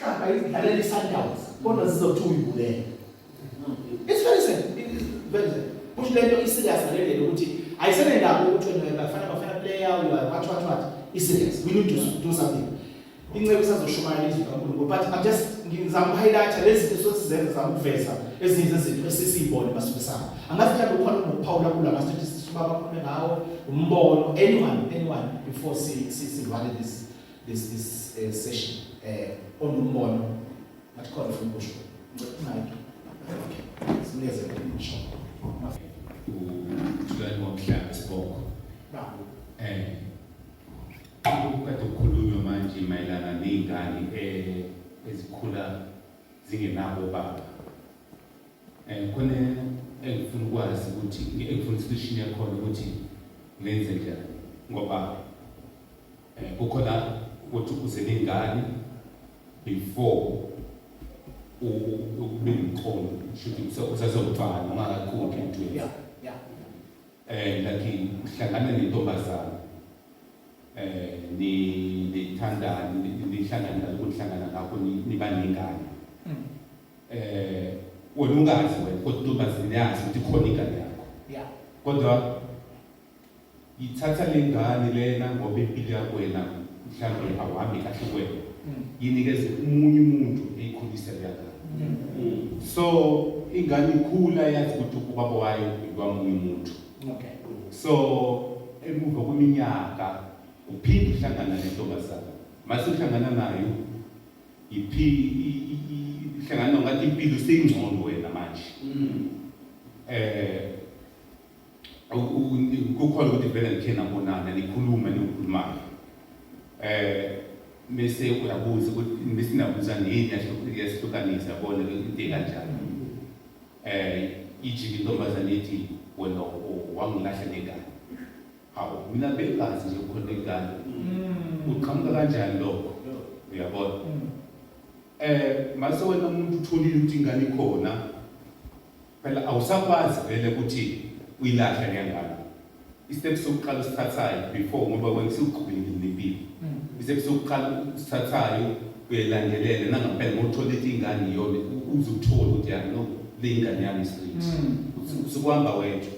Mhlawumbe ayidlalela iSundowns kodwa sizothi uyibulele. It's very simple. Very simple. Kusho lento iserious ngalendlela ukuthi ayisene ndaba ukuthi wena bafana bafana player uyawathi wathi wathi iserious. We need to do something. Inceku sazoshumayela izwi kaNkulunkulu but I'm just ngizama ukuhighlighta lezi zinto sosizenza zama ukuveza ezinye zezinto esisiyibone basuke sabo. Angazi mhlawumbe ukhona ukuphawula kula masters baba khona ngawo umbono anyone anyone before si si silwane lesi this this uh, session eh uh, onombono ngathi khona ufuna ukusho nciphi okay sinikeze ukusho uthulani wamhlaba sibongo babu eh ukade ukhulunywa manje mayelana nezingane eh ezikhula zingenabo baba eh khona engifuna ukwazi ukuthi engifuna solution yakhona ukuthi ngenze njani ngoba Eh, kukhona ukuthi uze nengane before ube mkhulu shuthi usazomfana ungakakhokhi intweni eh like uhlangana nentombazana eh ni nithandana nihlangana nalo kuhlangana ngakho niba nengane mm. eh wena ungazi wena kodwa intombazane yazi ukuthi khona ingane yakho kodwa Yithatha lengane lena ngoba impilo yakwena mhlambe awuhambi kahle kwena. Yinikeze umunye umuntu eyikhulise leyangane. So ingane ikhula yazi ukuthi ubaba wayo ikwamunye umuntu. Okay. So emuva kweminyaka uphinde uhlangana nentombazana. Mase uhlangana nayo iphi ihlangana ngathi impilo seyingcono wena manje. Eh kukhona ukuthi vele ngithe nabonana nikhulume nikhulumayo eh bese uyabuza ukuthi bese nabuza nini yasihlukanisa yabona into kanjani eh ijike intombazane ithi wena wangilahla ngengane hawu mina bengazi nje ukhona ingane mm. uqhamuka kanjani lokho uyabona mm. eh mase wena umuntu utholile ukuthi ingane ikhona Phela awusakwazi vele ukuthi uyilahle ngengane. Isitepu sokuqala usithathayo before ngoba wena siwuqhubekile nempilo. Isitepu sokuqala usithathayo uyelandelela nangampela ngothola ithi ingane iyona uzuthola ukuthi ya no le ingane yami straight. Usu- Usukuhamba wedwa.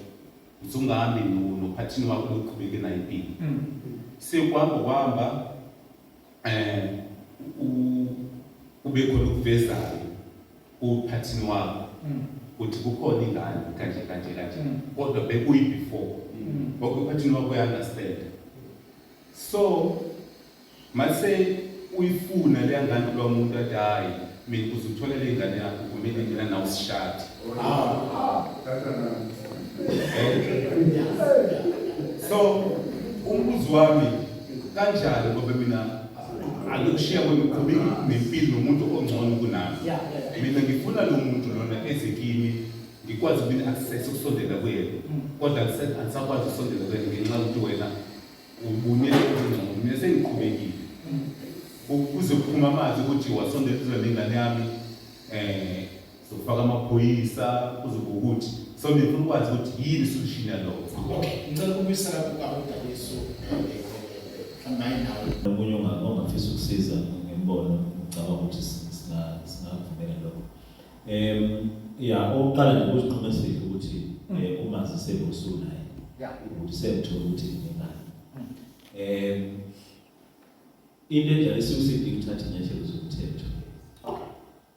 Usungahambi no- nophathini wakho loqhubeke nayo impilo. Sekuhamba kuhamba um kube khona ukuvezayo kuphathini wakho hmm. ukuthi kukhona ingane kanje kanje kanje hmm. kodwa bekuyi-before hmm. ngoba uphathini wakho uya-understand so mase uyifuna leya ngane kulowa muntu athi hhayi Mina ukuze utholele ingane yakho kumele ngena nawo sishadi. Ah. So umbuzo wami kanjani ngoba mina angikushiya kwemikhumbi nempilo nomuntu ongcono kunami. Mina ngifuna lo muntu lona eze kimi ngikwazi ukubini access ukusondela kuyena. Kodwa angisakwazi ukusondela kuyena ngenxa yokuthi wena Ubunele ingxoxo mina sengiqhubekile. Ukuze kuphuma amanzi ukuthi wasondela eduze nengane yami eh sokufaka amaphoyisa kuzoba ukuthi so ngifuna ukwazi ukuthi yini solution yalokho. Okay, ngicela ukubuyisa lapho kwakudakiso manje nawe. Nomunye ongafisa ukusiza ngembono ngicabanga ukuthi singavumela lokho. Um ya okokuqala nje kuzinqumo esihle ukuthi mm. eh, uma sisebusunaye ukuthi semthola ukuthi ngingani. Mm. Um into enjalo siwusidinga ukuthatha inyathelo zomthetho.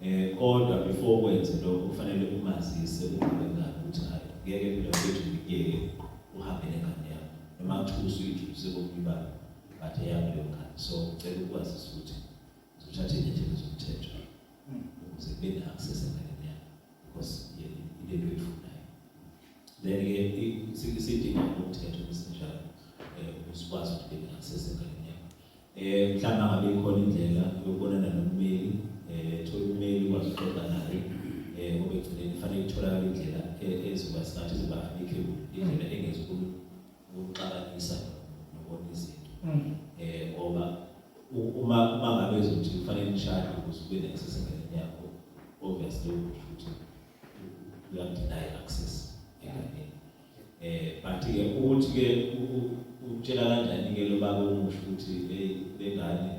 Eh kodwa before kwenze lokho kufanele umazise umuntu engane ukuthi hayi ngeke phela kwethu ngiyeke uhambe nengane yakho noma kuthiwa usuyidlulise komunye ubaba but eyami leyo ngane so ngicela ukwazisa ukuthi ngizothatha inyathelo zomthetho. ukuze kube ne-access engangenyanga because into eyifunayo then-ke sidinga umthetho esinjalo eh, um sikwazi ukuthi kube ne-access engangenyanga um eh, mhlawumbe angabe ikhona indlela yokubonana nommeli um eh, thola ummeli ukwazi ukuxoxa naye um ngoba ekugcineni kufanele kutholakala indlela e-, ezoba singathi izoba amicable indlela engezukulunga ukuxabanisa nokona izinto um ngoba uma uma ngabe ezothi kufanele nishade ukuze ube ne-access enganeni yakho obviously ukuthi futhi uyamdeny access enganeni um but-ke ukuthi-ke ukutshela kanjani-ke lo baba omusha ukuthi le ngane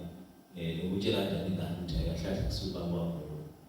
um nokutshela kanjani ingane ukuthi ayikahlahla kusuka kwakho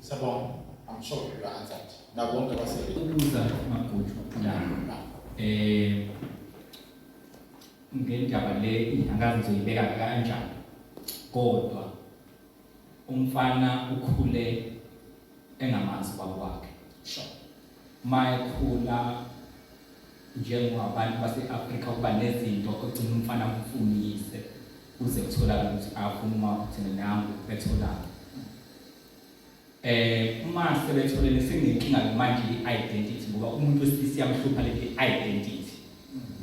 Sabona, I'm sure you are answered. Na bonke abasebenzi. Ukuza magutsho la. Eh ngendaba le angazi ngizoyibeka kanjani. Kodwa umfana ukhule engamazi bakwakhe. Sure. mayekhula njengabantu base-afrika ukuba nezinto ogcina umfana amfumise kuze kutholakale ukuthi afuna uma thina nangu betholakale eh uma sebetholene sinenkinga manje i-identity ngoba umuntu wesilisa iyamhlupha le identity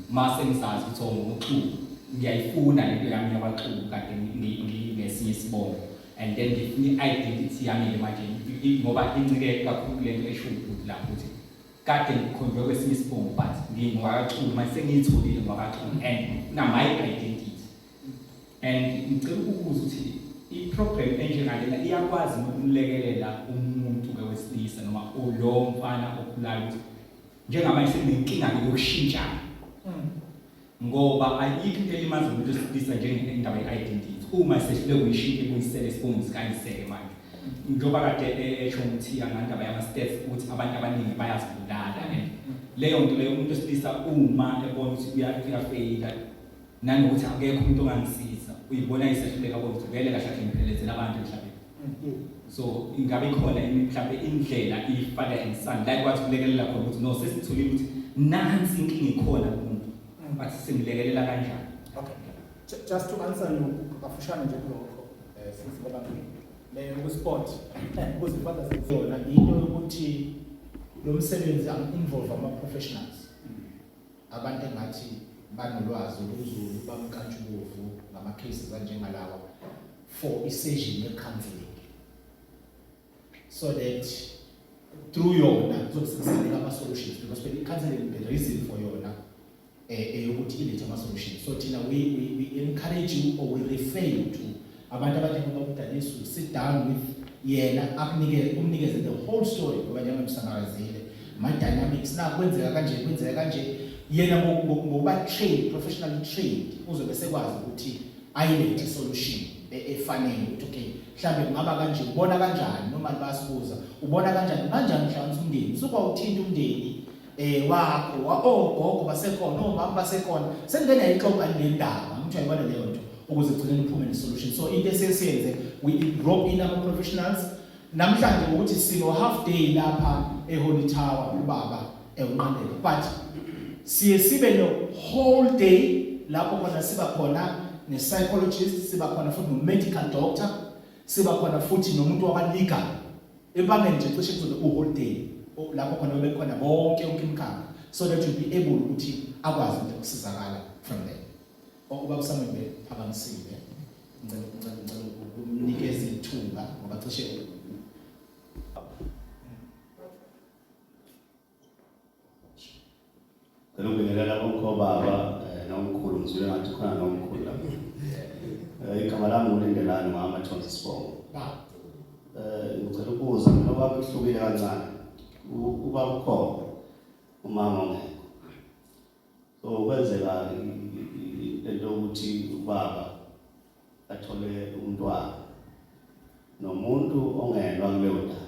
mase ngisazi ukuthi onguxuku ngiyayifuna lento yami yabaxuku kade nginesinye isibongo and then ngifuna i-identity yami le manje ngoba incike kakhulu lento esho ukuthi lapho ukuthi kade ngikhonjwe kwesinye isibongo but ngingwakaxuku manje sengiyitholile ngwakaxuku and na my identity and ngicela ukubuza ukuthi i-program enjengalena iyakwazi nokumlekelela umuntu-ke wesilisa noma ulo mfana okhulayo ukuthi njengamanje sekunenkinga yokushintshana hmm. ngoba ayikho into elimaza umuntu osilisa njengendaba ye-identity uma sehlule kuyishintsha ibuyisele sibonge sikayiseke manje njengoba kade e-, esho umthiya ngandaba yama-stats ukuthi abantu abaningi bayazibulala and leyo nto leyo umuntu osilisa uma ebona ukuthi uyafeyila nanokuthi akekho umuntu ongangisiza uyibona isehluleka ukuthi vele kahle kahle ngiphelezela abantu emhlabeni so ingabe ikhona mhlawumbe indlela i-father and son la ikwazi ukulekelela khona ukuthi no sesitholile ukuthi nansi inkinga ikhona kumuntu mm. but simlekelela kanjani okay just to answer you kafushane nje kulokho eh, futhi ngoba le kusport kuzifata sekuzona into yokuthi lo msebenzi angi-involve ama-professionals Abantu engathi banolwazi olunzulu bamnkantshubovu ngama-cases anjengalawa for i-session ye-counseling so that through yona kuzokusikiseleka ama-solutions because phela i-counseling the reason for yona eh, eyokuthi ilethe ama-solutions so thina we, we, we encourage you or we refer you to Abantu abathi ngoba uDalisu sit down with yena akunikeze kumnikeze the whole story ngoba njengoba msamarazile my dynamics na kwenzeka kanje kwenzeka kanje yena ngokuba trained professionally trained uzobe sekwazi ukuthi ayilethe solution e, efanele ukuthi okay mhlawumbe kungaba kanje ubona kanjani noma basibuza ubona kanjani kanjani mhlawumbe umndeni usuba uthinta umndeni eh wakho waogogo basekhona omama basekhona sengena ixoxa ngendaba ngithi ayibona leyo nto ukuze kugcine uphume nesolution so into esesiyenze we drop in ama professionals namhlanje ukuthi sino half day lapha eHoly Tower ubaba ewunqandela but siye sibe no whole day lapho khona siba khona ne psychologist siba khona futhi no medical doctor siba khona futhi nomuntu waba legal ebangeni nje cishe kuzobe kuwuholiday lapho khona bebekhona bonke wonke umkhakha so that you'll be able ukuthi akwazi ukuthi ukusizakala from there okuba kusamele bephakamisile ngicela ngicela ngicela ukunikeza ithuba ngoba cishe Ngicela ukubingelela kukho baba eh, nomkhulu ngizwile ngathi khona nomkhulu lapho. Eh, Igama lami nguLindelani mama Thonsi Sibongo. Eh, Ngicela ukubuza mina ubaba uhlukile kancane. U- Ubaba ukhona umama ongekho. So kwenzeka i- i- i- lento yokuthi ubaba athole umntwana nomuntu ongenwa kuleyo ndawo.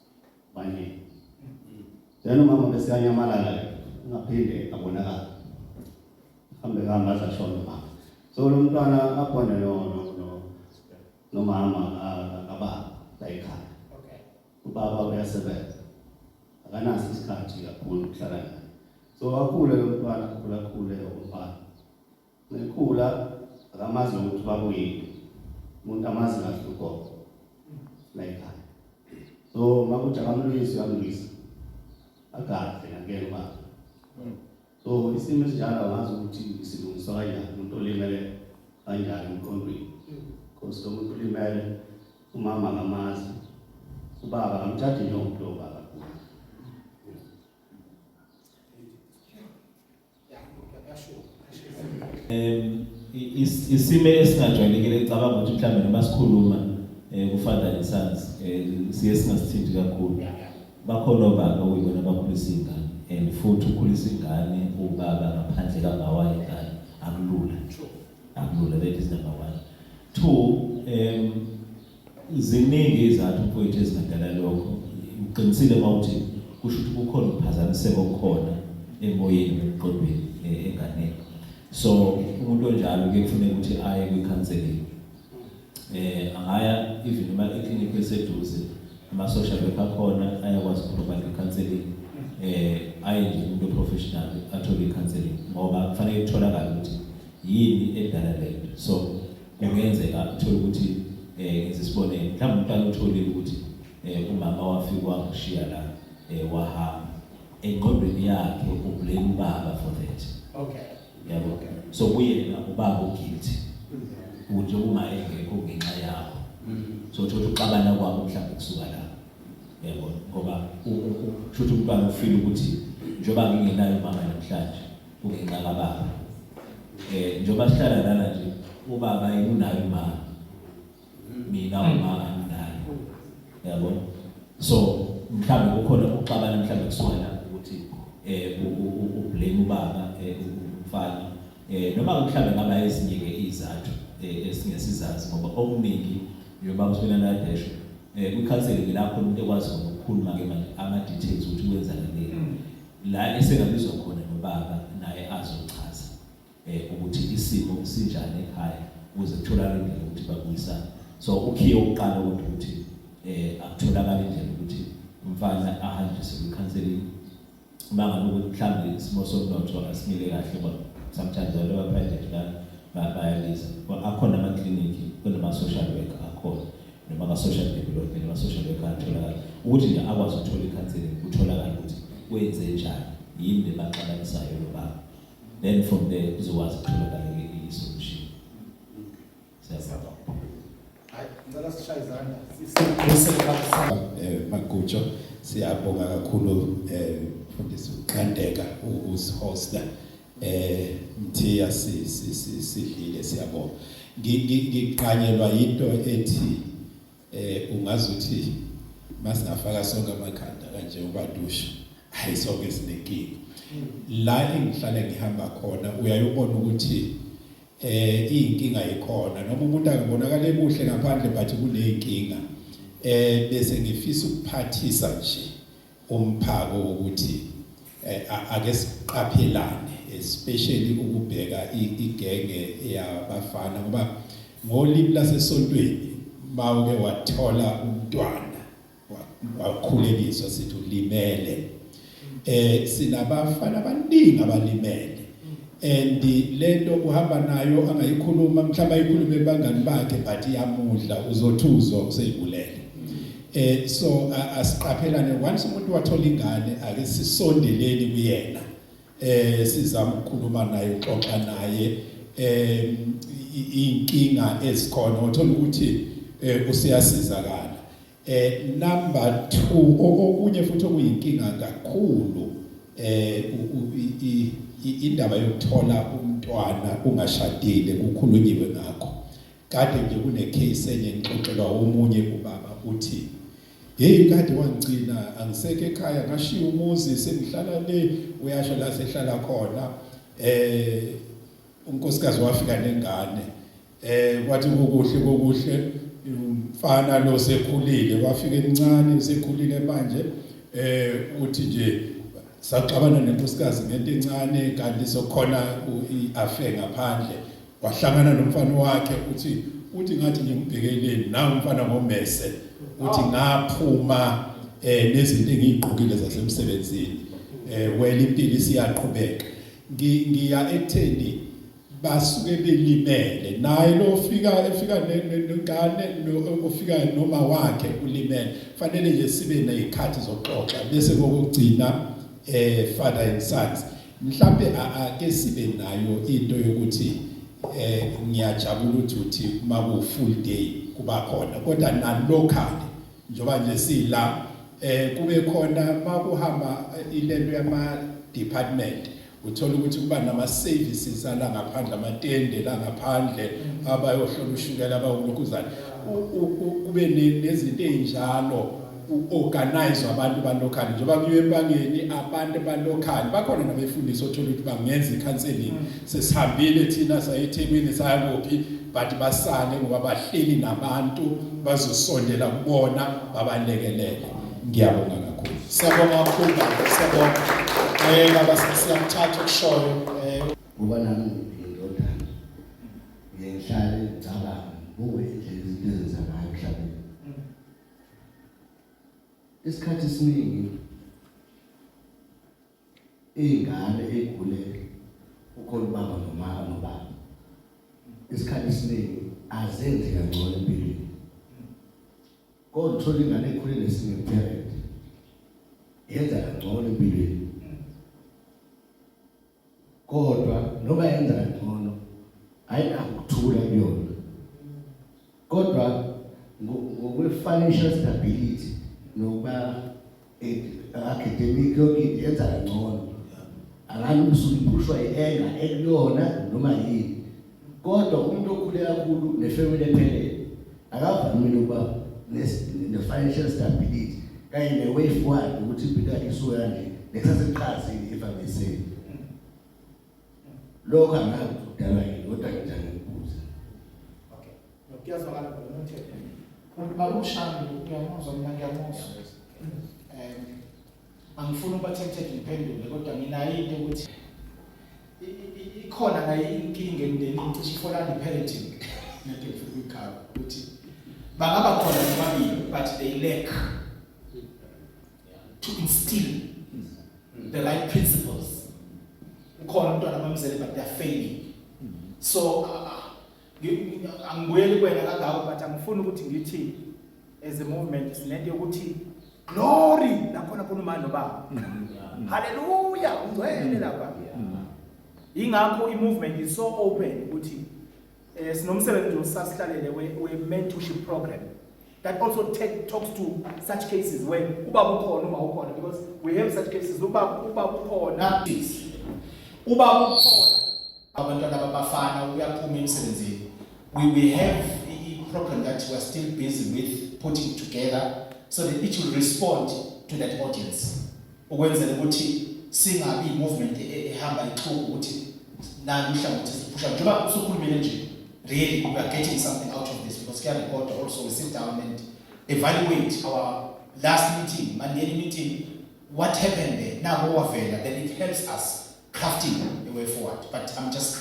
baningi njalo mama bese anyamalala ngaphinde abonakala hambe hamba zashona mama so lo mntwana abone no no no nomama akaba la ekhaya okay ubaba uyasebenza akanaso isikhathi kakhulu ukuhlala naye so akhule lo mntwana akhula khule umfana Ngekhula akamazi nokuthi babuyile. Umuntu amazi ngahluko la ekhaya. So makuthi akamlwisi uyamlwisa. Agadle ngakele ubaba. So isimo esinjalo angazi ukuthi silungiswa kanjani umuntu olimele kanjani emqondweni. Because lo muntu olimele umama akamazi. Ubaba akamthathi njengomuntu obaba. um isime esingajwayelekile icabanga ukuthi mhlawumbe noma sikhuluma um kufather and sons um siye singasithinti kakhulu bakhona obaba okuyibona abakhulisa iy'ngane and futhi ukhulisa ingane ubaba ngaphandle kamawa ingane akulula akulula that is number one two um Ziningi izathu mfowethu ezingadala lokho. Uqinisile uma uthi kusho ukuthi kukhona ukuphazamiseka okukhona emoyeni emqondweni eh, enganeni. So umuntu onjalo ke kufanele ukuthi aye kwi-counseling. Eh angaya even uma eclinic eseduze amasosha bepha khona ayakwazi ukuprovide i-counseling eh aye nje umuntu professional athole i-counseling ngoba kufanele kutholakale ukuthi yini edala lento. So Kungenzeka uthole ukuthi eh ngenza isibonelo mhlawumbe umntwana utholile ukuthi eh umama wafika wangishiya la eh wahamba engqondweni yakhe ublame ubaba for that okay yabo okay. so kuyena ubaba uguilty mm-hmm. ukuthi uma engekho ngenxa yakho mm-hmm. so uthola uxabana kwabo mhlawumbe kusuka la yabo ngoba kusho ukuthi umntwana ufile ukuthi njengoba ngingenayo mama namhlanje Kungenxa kababa. Eh njengoba sihlala lana nje ubaba unayo imali. Mina umama nginayo. Yabo. So mhlawumbe kukhona ukuxabana mhlawumbe kusona ukuthi eh ublame ubaba eh, umfana eh noma mhlawumbe ngaba ezinye ke izathu eh, esingesizazi ngoba okuningi njengoba usibona la dash eh kukhathele lapho umuntu ekwazi ukukhuluma ke manje ama details ukuthi kwenzakale la esengabizwa khona nobaba naye azochaza eh ukuthi isimo sinjani ekhaya ukuze kutholakale indlela ukuthi babuyisane so ukhiye uqala kodwa ukuthi eh akutholakala indlela ukuthi umfana ahanjiswe kwi-counseling uma ngabe ukuthi mhlawumbe isimo somnotho asimile kahle ngoba sometimes abantu ba-private bayaliza akhona amaklinikhi kunama-social worker akhona noma ka-social development ama-social worker atholakala ukuthi nje akwazi ukuthola i-counseling kutholakala ukuthi kwenze njani yini le baxabanisayo lo baba then from there kuzokwazi ukutholakala-ke i-solution siyazaba ngicela sishaye izandla sisebenzisana eh, magutsho siyabonga kakhulu eh mfundisi uqandeka usihosta eh mthiya si si si sidlile siyabonga ngiqanyelwa into ethi eh ungazi ukuthi masingafaka sonke amakhanda kanje ubadusha hayi sonke sinenkinga la engihlale ngihamba khona uyayobona ukuthi eh inkinga ikhona noma umuntu akubonakala ebuhle ngaphandle but kunenkinga eh bese ngifisa ukuphathisa nje umphako ukuthi ake siqaphelane especially ukubheka igenge yabafana ngoba ngolimi lasesontweni mawuke wathola umntwana wakhuleliswa sithi ulimele eh sinabafana abaningi abalimele and lento uhamba nayo angayikhuluma mhlawumbe ayikhulume bangani bakhe but iyamudla uzothuzwa useyibulele eh so asiqaphelane once umuntu wathola ingane ake sisondeleni kuyena eh sizama ukukhuluma naye uxoxa naye eh inkinga ezikhona uthola ukuthi eh, usiyasizakala eh number 2 okunye futhi okuyinkinga kakhulu eh indaba yokuthola umntwana ungashadile kukhulunyiwe ngakho Kade nje kune case enye ngixoxelwa omunye ubaba uthi hey kade wangigcina angiseke ekhaya ngashiya umuzi sengihlala le uyasho la sehlala khona eh unkosikazi wafika nengane eh wathi kokuhle kokuhle umfana lo sekhulile wafika emncane sekhulile manje eh uthi nje saxabana nenkosikazi ngento encane kanti sokhona iafe ngaphandle wahlangana nomfana wakhe uthi uthi ngathi ngimubhekeleni nawe umfana ngomese uthi oh. ngaphuma eh nezinto engiyigqokile zasemsebenzini eh wena impilo isiyaqhubeka ngiya ekutheni basuke belimele naye lo ofika efika nengane ofika noma wakhe ulimele fanele nje sibe nezikhathi zokuxoxa bese kokugcina eh father and sons Mhlambe ake sibe nayo into yokuthi eh ngiyajabula ukuthi uthi uma ku full day kuba khona kodwa na local njoba nje sila eh kube khona makuhamba eh, ilento yama department uthola ukuthi kuba nama services ala ngaphandle amatende la ngaphandle mm. abayohlola ushukela abawulokuzana kube nezinto ezinjalo u-organize abantu balokhali njengoba kuyiwe empangeni abantu balokhali bakhona nabefundisi othola ukuthi bangenza i-counseling mm. sesihambile thina sayethekwini sayakuphi but basale ngoba bahleli nabantu bazosondela kubona babalekelele ngiyabonga kakhulu siyabonga kakhulu siyabonga eh baba siyakuthatha ukushoyo eh ngoba nami ngindodana ngihlale ngicabanga kuwe indlela izinto ezenzakala isikhathi esiningi ingane egule ukhona ubaba nomama nobaba isikhathi esiningi azenzi kangcono empilweni kodwa uthola ingane ekhule nesinye parent yenza kangcono empilweni kodwa noma yenza kangcono ayinako ukuthula kuyona kodwa ngokwe-financial stability nokuba academic yonke into yenza kangcono akani usuke iphushwa i-enga ekuyona noma yini Kodwa umuntu okhule kakhulu nefamily ephelele akavamile ukuba ne-financial stability kanye ne-way forward ukuthi impilo yakhe isuke kanje nekusasa eliqhazile evamisile. Lokho angazi ukuthi kudalwa yini kodwa ngithanda ukubuza. Okay. Nokuyazwakala khona umthetho. Umuntu bakumshaya ngiyamuzwa mina ngiyamuzwa. Angifuni ukuba tempted ngiphendule kodwa nginayo into ukuthi ikhona naye inkinga emndenini ukuthi ifolani parenting nento efuna ukuyikhala ukuthi bangaba khona nobabili but they lack to instill the right principles ukhona umntwana bamzele but they are failing so uh, angibuyeli kwena kangako but angifuni ukuthi ngithi as a movement sinento yokuthi glory nakhona khona umani nobaba mm-hmm. haleluya ungcwele mm-hmm. lapha mm-hmm. ingakho i-movement is so open ukuthi um sinomsebenzi osasihlalele we-mentorship program that also take, talks to such cases where uba bukhona uma ukhona because we have such cases uba uba bukhona uba bukhona abantwana babafana uyaphuma emsebenzini we we have a program that we are still busy with putting together so that it will respond to that audience ukwenzela ukuthi singabi movement e, e, ehamba ixhuku ukuthi nani uhlangothi siphusha njengoba usukhulumile nje really we are getting something out of this because kuya record also we sit down and evaluate our last meeting mandeni meeting what happened there nabo wavela then it helps us crafting a way forward but i'm just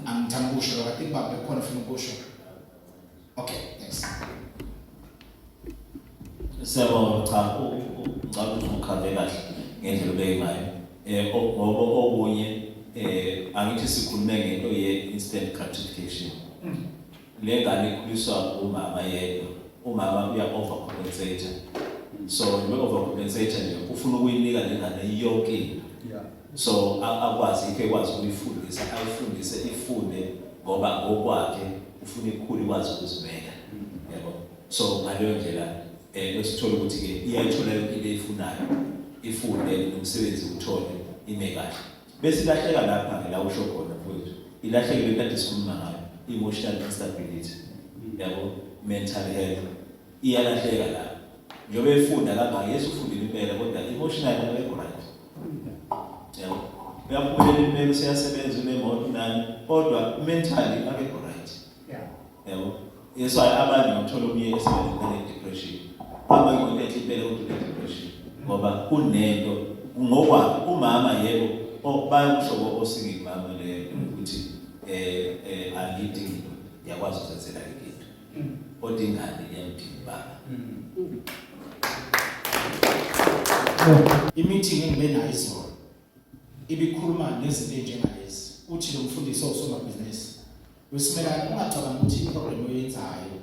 angithanda ukusho lokho i think babe khona funa ukusho Okay, thanks. Siyabonga cha ngicabanga ukuthi ukhambe kahle ngendlela obeke ngayo. Eh ngoba okunye eh angithi sikhulume ngento ye instant gratification. Mm. Le ngane ikhuliswa umama yedwa. Umama uya overcompensate. So lo overcompensate nje ufuna ukuyinika le ngane yonke into. so akwazi into ekwazi ukuyifundisa ayifundise ifunde ngoba ngokwakhe ufuna ikhulu ikwazi ukuzimela yabo so ngaleyo ndlela um besithola ukuthi-ke iyayithola yonke into eyifunayo ifunde nomsebenzi uthole ime kahle bese ilahleka lapha-ke la usho khona mfowethu ilahlekile kade sikhuluma ngayo emotional instability yabo mental health Iyalahleka la. Njengoba efunda kangaka yes ufundile impela kodwa emotional ngoba egrind. Yebo. Uyaphumelela impela useyasebenza unemoto nani kodwa mentally akekho right. Yeah. Yebo. Yeso abanye ngithola omunye esebenza ne depression. Baba ngiyonethe impela ukuthi ne depression ngoba kunento ngoba umama yebo bayakushobo osingi mama le ukuthi eh eh angidingi yakwazi ukuzenzela odingani emdini baba imeeting engibe nayo izolo ibikhuluma ngezinto enjengalezi uthi lo mfundisi osomabhizinisi wesimelana ungacabanga ukuthi iprogram oyenzayo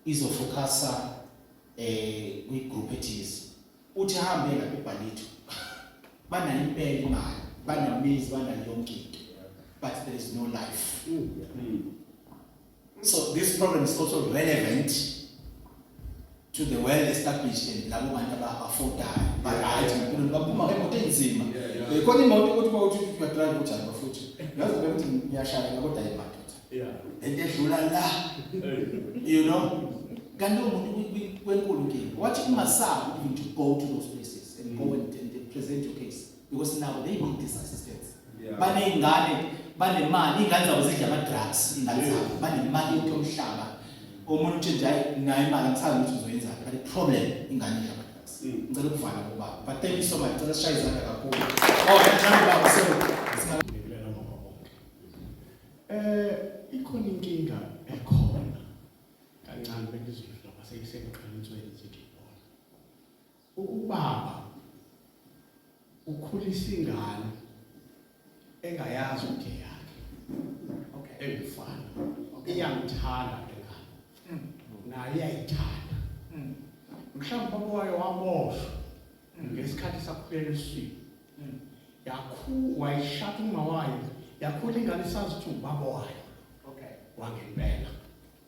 izofocusa eh kwi-group ethize uthi hambe lapha ebhalitho banayo impela imali banemizi banayo yonke into but there is no life mm. So this problem is also relevant to the well established and labo bantu abafodayo barayithi unkulunkulu baphuma ngemoto enzima eh, khona imoto ukuthi bawuthi uyadrayiva ujayiva futhi yazi ukuthi ngiyashaya kodwa yimadoda lento edlula la you know kanti umuntu kwenkulu nkinga wathi ungasabi even to go to those places and go and, and present your case because nabo they want this assistance yeah. baneyingane banemali iy'ngane zabo zidla ama-drugs iy'ngane zabo banemali yokuthi omhlaba omunye utshe nje hayi nayo imali angisazi ukuthi uzoyenzani but i-problem ingane idla ama-drugs mm. ngicela ukuvala kubaba but thank you so much cela sishaye izandla kakhulu oh nami baba so singakulekelela mama bonke eh ikhona inkinga ekhona kancane bengizodlula baseyisengiqala insweni zithi Ubaba ukhulisa ingane engayazi ukuthi yakhe. Okay, engifana. Okay, iyangithanda ingane. Mm. Naye uyayithanda. Mm. Mhlawumbe baba wayo waboshwa mm. ngesikhathi sakhulelwa isiko. Mm. Yakhu wayishaka uma wayo yakhula ingane isazi ukuthi ubaba wayo. Okay, wangempela.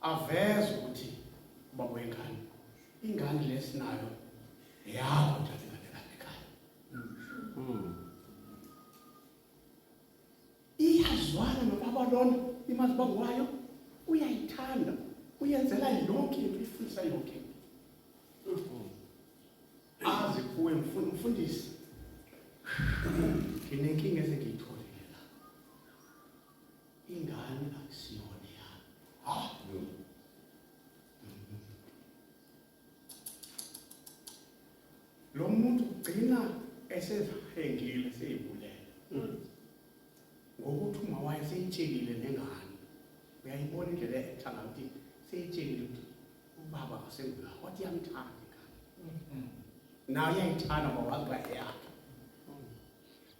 aveze ukuthi ubaba wengane ingane lesinayo yakho thatha ingane yakhe ekhaya hmm. iyazwana nobaba lona imazi baba wayo uyayithanda uyenzela yonke into ifundisa yonke into azi kuwe mfundisi nginenkinga esengiyitholile la ingane akusiyona yami ha no lo muntu ugcina esezihengile seyibulele hmm. ngokuthi uma wayeseyitshelile nengane uyayibona indlela ethanga ukuthi seyitshelile ukuthi ubaba ngasengula wathi yamthanda ingane hmm. naye uyayithanda ngoba wazi uba eyakhe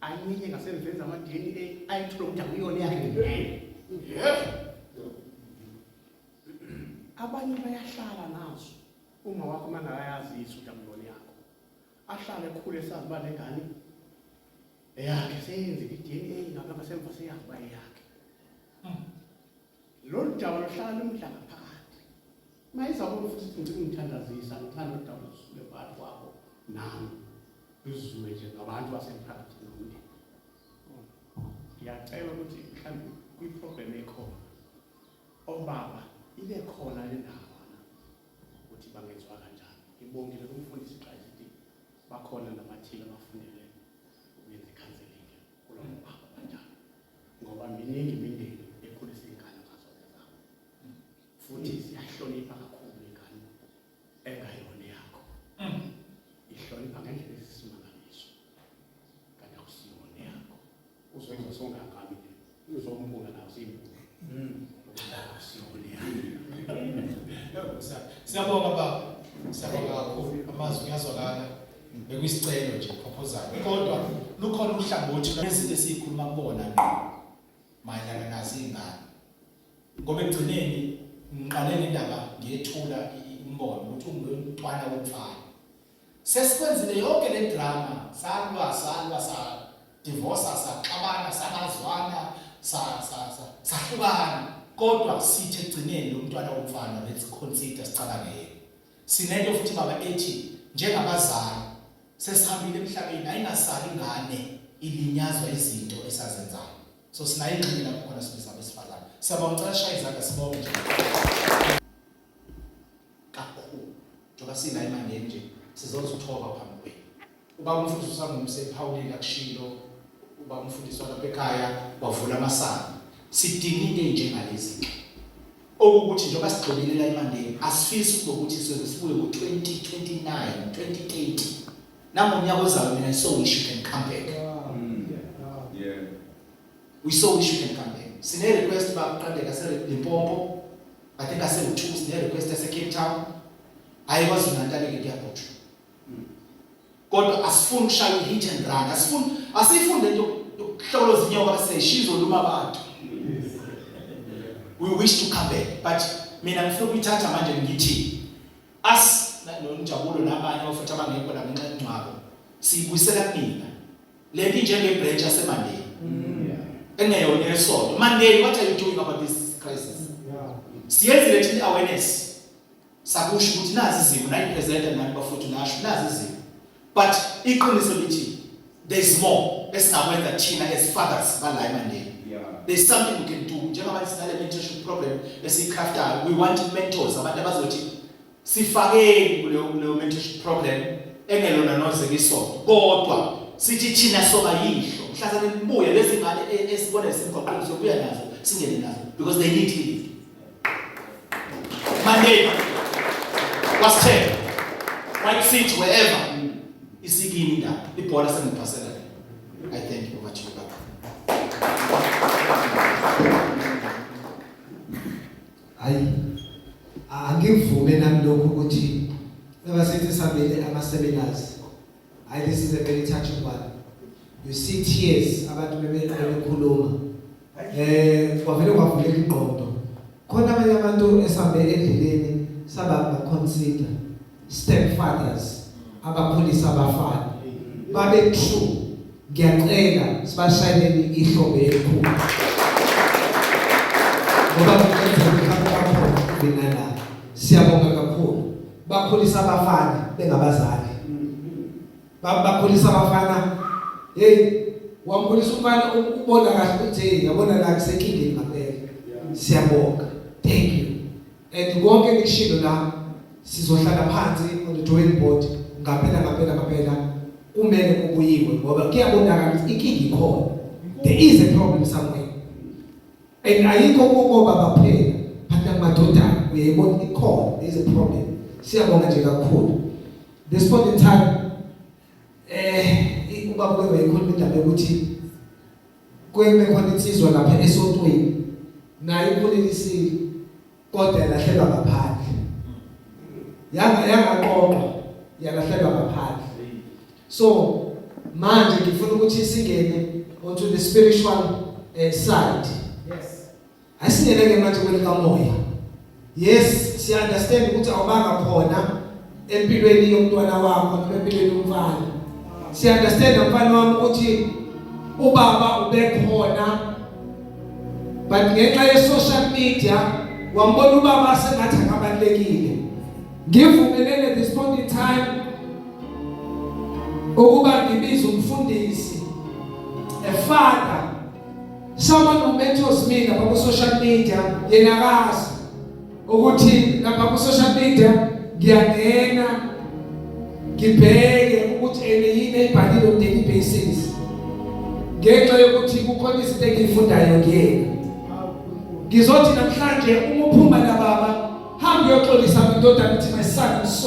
Ayinye ngasemvenza ama DNA ayithola ukuthi akuyona yakhe ngeke. Abanye bayahlala nazo uma wakho mangakayazi ukuthi akuyona yakho. Ahlale ekhule esazi uba nengane eyakhe seyenze i-DNA ngakho ngasemva seyazi uba eyakhe. lolu daba luhlala lumdla ngaphakathi uma izabona futhi ngicela ungithandazisa ngithanda olu daba lusuke phakathi kwakho nami luzulwe nje ngabantu basemphakathini omndeni ngiyacela ukuthi mhlawumbe kwiproblem ekhona obaba ibe khona le ndaba ukuthi bangenziwa kanjani ngibongile kumfundisi iqayiti bakhona nabathile abafundele ukwenza ikhanselingi kulo mphakathi ngoba miningi imindeni ekhulisa iy'ngane zazona zabo futhi siyahlonipha kakhulu ingane engayona yakho ihlonipha ngendlela esisimangaliso kanti akusiyona yakho uzoyiza songakami uzombula nawo simbule akusiyona yakho siyabonga baba siyabonga kakhulu amazwi uyazwakala bekuyisicelo nje proposal kodwa lukhona uhlangothi lwezinto esiyikhuluma kubona ngqo mayelana nazo iy'ngane ngoba ekugcineni ngiqale ngendaba ngiyethula umbono ukuthi ungumntwana womfana sesikwenzile yonke le drama salwa salwa sa divorce saxabana sabazwana sa sa sahlukana kodwa sithe gcineni lo mntwana womfana let's consider sicabange yena Sinento futhi baba ethi njengabazali sesihambile emhlabeni ayingasali ingane ilinyazwa izinto esazenzayo. So sinayo ingxenye lapho khona sibiza abesifazane. Siyabonga ngicela shaye izandla sibonge nje. Kakhulu. Njengoba sila imandeni nje sizozithoba phambi kwenu. Ubaba umfundisi uSangomse ephawulile akushilo ubaba umfundisi walapha ekhaya wavula amasango. Sidinga into enjengalezi nje. Okukuthi njengoba sigxobile la eMandeni asifisi ukuthi sizoze sibuye ngo-2029, 2030. Nangonyaka ozayo mina so wish you can come back. Yeah. We so wish you can come back. Sine request ba uqandeka se Limpopo. I think I said two sine request ase Cape Town. Ayikwazi uNatal ke kuyabhotshwa. kodwa asifuni ukushaya i-hit and run asifuni asifuni lento yokuhlolo zinyoka seshizo luma abantu we wish to come back but mina ngifuna ukuyithatha manje ngithi as nonjabulo nabanye abafethu abangekho la ngenxa yengcwabo siyibuyisela kunina le nto injengebranch yasemandeni engeyona yesonto mandeni what are you doing about this crisis siyenzile thina i-awareness Sakusho ukuthi nazi izimo nayi presenter nani bafuthu nasho nazi izimo. But iqiniso lithi there is more esingakwenza thina as fathers bala eMandeni. There's something we can do njengabantu sinale mentorship program esiyicraftayo. We want mentors abantu abazothi sifakeni kuleyo kuleyo mentorship program engelona noze ngisonto kodwa sithi thina soba yihlo mhlazane libuye lezingane e, esibona esemgwaqweni sobuya nazo singene nazo because they need healing My neighbor was ten. White feet wherever. Isikini ndaba. Ibhola sengiphasela. I thank you much baba. Hayi. Angivume nami lokho ukuthi nabasithi sabele ama seminars Hayi this is a very touching one. You see tears abantu bebeqala ukukhuluma. Eh kwavele kwavuleka ingqondo. Khona abanye abantu esambe endleleni sabanga consider stepfathers abakhulisa abafana. Babe true. Ngiyacela sibashayeleni ihlobo elikhulu. Ngoba ngiyacela ukuthi abantu bakhona. Siyabonga bakhulisa abafana bengabazali bakhulisa abafana hey wamkhulisa umfana ubona kahle ukuthi hey yabona la kusenkingeni ngapela siyabonga thank you and konke ngishindo la sizohlala phansi on the drawing board ngapela ngapela ngapela kumele kubuyiwe ngoba kuyabonakala ukuthi inkinga ikhona there is a problem somewhere and ayikho kubo baba kuphela but nakumadodana uyayibona ikhona there is a problem siyabonga nje kakhulu this point in time eh ubaba kube yikhona indaba yokuthi kwebe khona insizwa lapha esontweni naye ukhulile isile kodwa yalahlelwa ngaphandle yanga yangaqoqwa yalahlelwa ngaphandle so manje ngifuna ukuthi singene onto the spiritual uh, side yes asingene ke manje kwelikamoya yes si understand ukuthi awubanga khona empilweni yomntwana wakho noma empilweni yomfana siunderstand mfana wami ukuthi ubaba ubekhona but ngenxa ye social media wambona ubaba sengathi akabalekile ngivumelene at this point in time ukuba ngibize umfundisi a father someone who mentors me ngapha ku social media yena kazi ukuthi lapha ku social media ngiyangena ngibheke ukuthi ene yini ebhalile on daily basis ngenxa yokuthi kukhona izinto engifundayo ngiyena ngizothi namhlanje uma uphuma la baba hamba uyoxolisa kwindoda ukuthi my son so